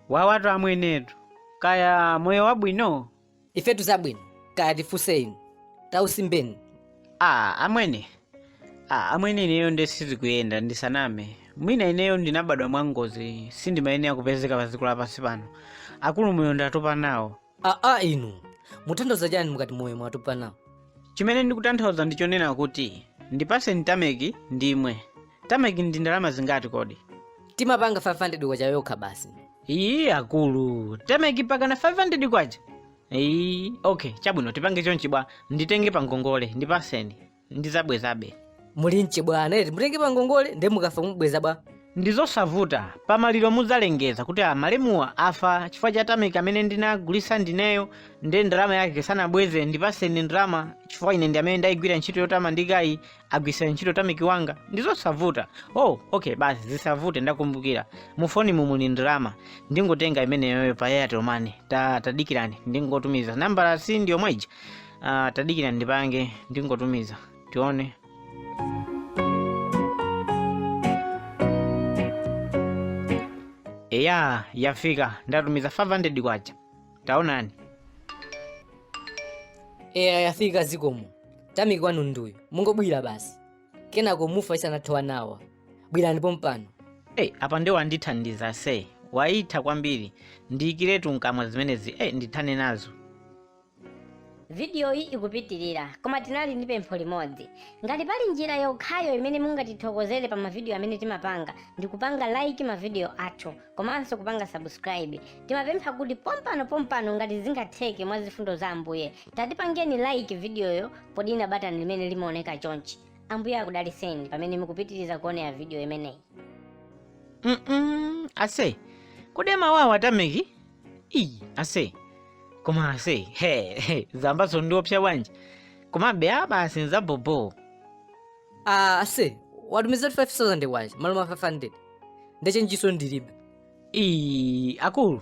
wawatu amwenetu kaya moyo wabwino ifetu zabwino kaya tifunse inu tausimbeni a amwene a amwene ineyo nde sizikuyenda ndisaname mwina ineyo ndinabadwa mwangozi sindimayenera kupezeka pa dziko lapansi pano akulu moyo ndatopa nawo aa inu mutanthauza chani mukati moyo mwatopa nawo chimene ndikutanthauza ndi chonena kuti ndipaseni tameki ndimwe tameki ndi ndalama zingati kodi timapanga 500 kwacha yokha basi iyi akulu tameki pakana 500 kwacha iyi okay chabwino tipange chonchi bwa nditenge pangongole ndipaseni ndizabwezabe muli nchibwana eti mutenge pangongole nde mukafa mubweza bwanji ndizosavuta pamaliro muzalengeza kuti malemuwa afa chifukwa cha tameki amene ndinagulisa ndineyo nde ndalama yake sanabweze ndipaseni ndalama chifukwa ine ndi amene ndayigwira ntchito yotamandikayi agwisa ntchito tameki wanga ndizosavuta oh okay basi zisavute ndakumbukira mufonimu muli ndalama ndingotenga imeneyoyo pa airtel money ta tadikirani ndingotumiza nambala si ndiyomweja Ah, tadikirani ndipange ndingotumiza tione eya yafika ndatumiza 500 kwacha taonani eya yafika zikomo tameki wanu nduyu mungobwira basi kenako mufa isanathe awa awa bwirani pompano hey, apa nde wandithandiza ase waitha kwambiri ndiikiretu mkamwa zimenezi hey, ndithane nazo Vidiyoyi ikupitirira, koma tinali ndi pempho limodzi. Ngati pali njira yokhayo imene mungatithokozere pa mavidiyo amene timapanga ndi kupanga like mavidiyo athu komanso kupanga subscribe. Timapempha kuti pompano pompano ngati zingatheke mwa zifundo za Ambuye, tatipangeni like vidiyoyo podina batani limene limaoneka chonchi. Ambuye akudaliseni pamene mukupitiriza kuonera vidiyo imeneyi. Mm-mm. ase koma amawawa atameki iyi ase koma ase he he, zambaso ndiopsa bwanji komabe apa ase nzabobo Ah, ase watumiza 5000 kwacha malo mwa 500 nde chenjiso ndilibe iyi akulu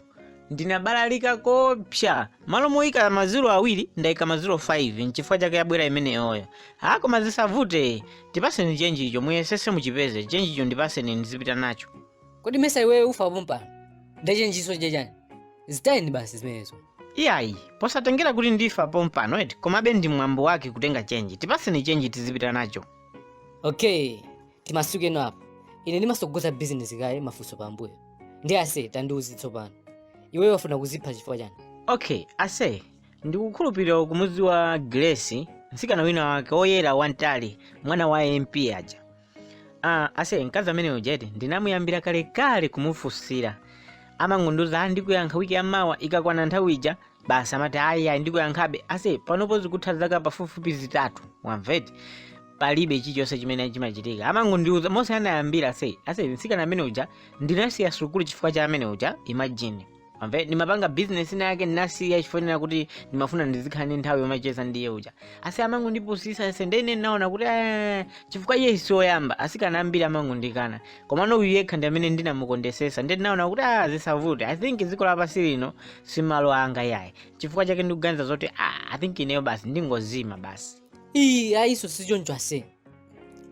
ndinabalalika koopsa malo moyika maziro awiri ndayika maziro 5 nchifukwa chake yabwera imeneyoyo a koma zisavute ndipaseni chenjicho muyesese muchipeze chenjicho ndipaseni ndizipita nacho kodi mesa iwewe ufa pompano nde chenjiso cha chani zitayeni basi zimenezo iyayi posatengera kuti ndifa pompano eti komabe ndi mwambo wake kutenga chenji tipaseni chenji tizipita nacho okay timasuke no apo ine ndimasogoza bizinesi kaye mafunso pambuyo nde ase tandiuze tsopano iweyo wafuna kuzipha chifukwa chani okay ase ndikukhulupirira ukumudziwa grace mtsikana wina wake woyera wantali mwana wa mp aja Ah, ase mkazi amene uja eti ndinamuyambira kalekale kumufunsira amangondiuza "Ah, ndikuyankha wiki yamawa ikakwana nthawi ija basi amati ayi ayi ndikuyankhabe ase panopo zikutha zaka pafupifupi zitatu wamveti palibe chilichonse chimene chimachitika amangondiuza mmene anayambira ase ase mtsikana amene uja ndinasiya sukulu chifukwa cha amene uja imagine amve ndimapanga business ina yake ndinasiya chifanira kuti ndimafuna ndizikhala ndi nthawi yomacheza ndi iye uja asi amangondipusisa ese nde ine ndinaona kuti "Eh, chifukwa iye si oyamba asikana ambiri amangondikana komano uyu yekha ndi amene ndinamukondesesa nde ndinaona kuti ah zisavute i think dziko lapansi lino si malo anga yayi chifukwa chake ndikuganiza zoti ah i think ineyo basi ndingozima basi iyi ayiso sichoncho ase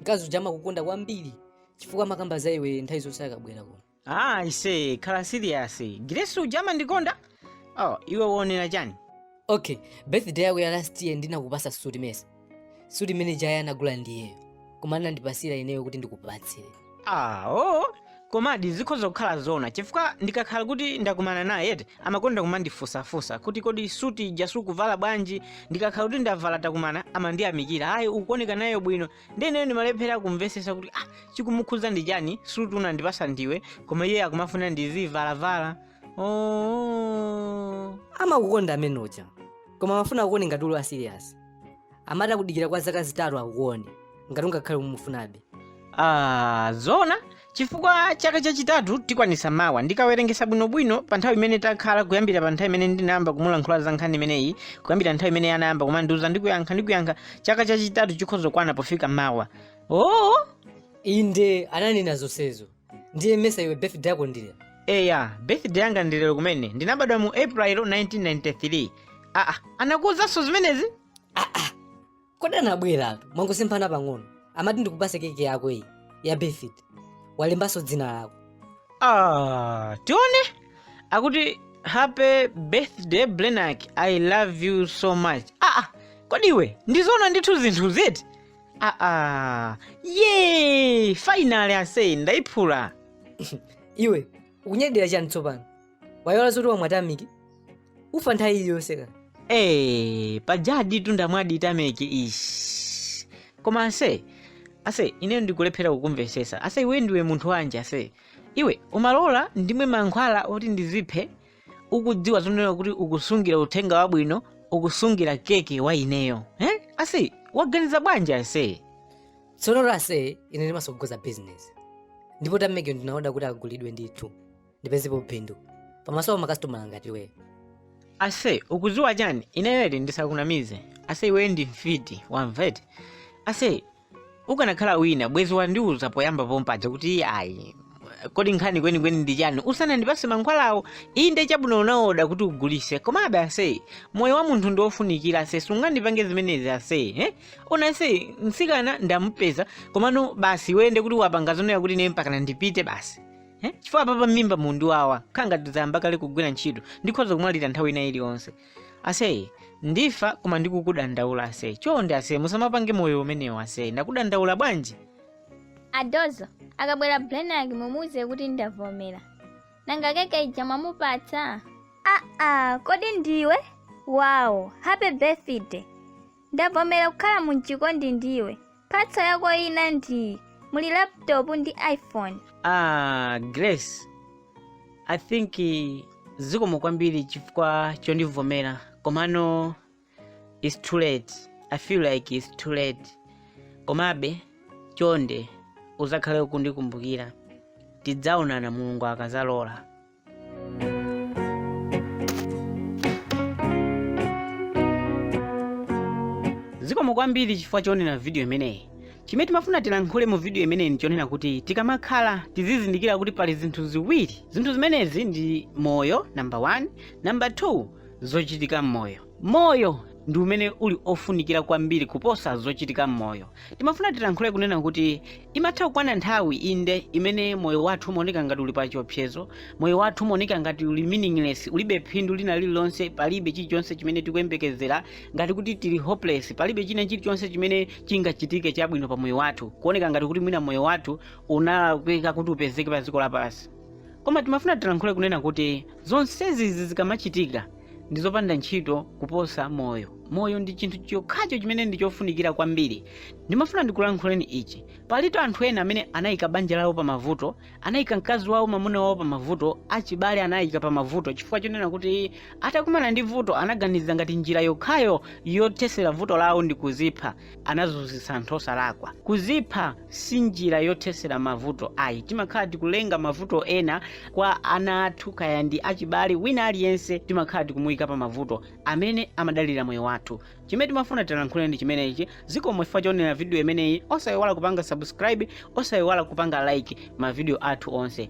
mkazi uja amakukonda kwambiri chifukwa amakamba za iwe nthawi zonse akabwera kuno Ah, ase khala serious Grace uja amandikonda oh, iwe waonera chani okay birthday yako ya last year ndinakupasa suti mesa suti imene ija anagula ndiyeyo koma anandipasira ineyo kuti ndikupatsire ah, oh. komadi zikhoza kukhala zona chifukwa ndikakhala kuti ndakumana naye eti amakonda kumandifusafusa kuti kodi suti ija sukuvala bwanji ndikakhala kuti ndavala takumana amandiyamikira ayi ukuoneka nayo bwino nde ineyo ndimalephera kumvesesa kuti ah chikumukhuza ndi chani suti unandipasa ndiwe koma iye akumafuna ndizivalavala oh. amakukonda amene uja koma amafuna akuone ngati uli serious amati akudikira kwa zaka zitatu akuone ngati ungakhale umufunabe ah, zona Chifukwa chaka chachitatu tikwanisa mawa. Ndikawerengesa bwino bwino pa nthawi imene takhala kuyambira pa nthawi imene ndinayamba kumulankhula za nkhani imeneyi, kuyambira nthawi imene anayamba kumandiuza ndikuyankha ndikuyankha, chaka chachitatu chikhoza kukwana pofika mawa. Oh! Inde, ananena zonsezo. Ndiye mesa iwe birthday yako ndi lero. Eya, birthday yanga ndi lero kumene. Ndinabadwa mu April 1993. Ah, ah, anakuuzanso zimenezi? Ah, ah, kodi anabweratu mwangosemphana pang'ono amati ndikupase keke yako iyi ya birthday walembanso dzina lako Ah, tione akuti happy birthday blenak i love you so much ah, ah, kodi iwe ndizona ndithu zinthu zi eti ah, ah. ye finally ase ndaiphula iwe ukunyadira chani tsopano waiwala zoti wamwa tameki ufa nthawi iliyonse ka ee pajaditu ndamwadi tameki ishi koma ase ase ine ndikulephera kukumvesesa ase iwe ndiwe munthu wanji ase iwe umalola ndimwe mankhwala oti ndiziphe ukudziwa zonena kuti ukusungira uthenga wabwino ukusungira keke wa ineyo eh? ase waganiza bwanji ase tsono ase ine ndimasogoza bizinesi ndipo tameki ndinaoda kuti agulidwe ndithu ndipezepo phindu pamaso pa kasitomala ngati iwe ase ukuziwa chani ineyo eti ndisakunamize ase iweyo ndi mfiti wamvete ase ukanakhala wina bwezi wandiuza poyamba pompaja kuti ayi kodi nkhani kwenikweni ndi chani usanandipase mankhwalawo inde chabwino unaoda kuti ugulise komabe ase moyo wa munthu ndiwofunikira ase sungandipange zimenezi ase eh? ona ase mtsikana ndamupeza komano basi wende kuti wapanga zonena kuti ine mpakana ndipite basi Eh? chifukwa apapa m'mimba mukundiwawa kukhala ngati zayamba kale kugwira ntchito ndikhoza kumwalira nthawi ina iliyonse aseye ndifa koma ndikukudandaula aseye chonde aseye musamapange moyo umenewo aseye ndakudandaula bwanji adozo akabwera blenag mumuuze kuti ndavomera nanga keke ija mwamupatsa aa kodi ndiwe wow happy birthday Ndavomera kukhala m'chikondi ndiwe. Mphatso yako ina ndiyi, muli laptop ndi iPhone. Ah, Grace, I think eh, zikomo kwambiri chifukwa chondivomera komano it's too late. I feel like it's too late. Komabe chonde uzakhale kundikumbukira. Tidzaonana Mulungu akazalola. zikomo kwambiri chifukwa choonera vidiyo imeneyi chimene timafuna tilankhule mu vidiyo imeneyi ndichonena kuti tikamakhala tizizindikira kuti pali zinthu ziwiri zinthu zimenezi ndi moyo namba 1 namba 2 zochitika m'moyo Moyo ndi umene uli ofunikira kwambiri kuposa zochitika m'moyo. Timafuna tilankhule kunena kuti imatha kukwana nthawi inde imene moyo wathu umaoneka ngati uli pa chiopsezo, moyo wathu umaoneka ngati uli meaningless, ulibe phindu lina lililonse, palibe chilichonse chimene tikuyembekezera, ngati kuti tili hopeless, palibe china chilichonse chimene chingachitike chabwino pa moyo wathu, kuoneka ngati kuti mwina moyo wathu unalakwika kuti upezeke pa dziko lapansi. Koma timafuna tilankhule kunena kuti zonsezi izi zikamachitika, ndi zopanda ntchito kuposa moyo moyo ndi chinthu chokhacho chimene ndi chofunikira kwambiri ndimafuna ndikulankhuleni ichi palitu anthu ena amene anayika banja lawo pa mavuto anayika mkazi wawo mamuna wawo pa mavuto achibale anayika pa mavuto chifukwa chonena kuti atakumana ndi vuto anaganiza ngati njira yokhayo yothesera vuto lawo ndi kuzipha anazunzitsa anthu osalakwa kuzipha si njira yothesera mavuto ayi timakhala tikulenga mavuto ena kwa ana athu kaya ndi achibale wina aliyense timakhala tikumuyika pa mavuto amene amadalira moyo wathu chimene timafuna tilankhule ndi chimenechi zikomo chifukwa choonera vidiyo imeneyi osayiwala kupanga subscribe osayiwala kupanga like mavidiyo athu onse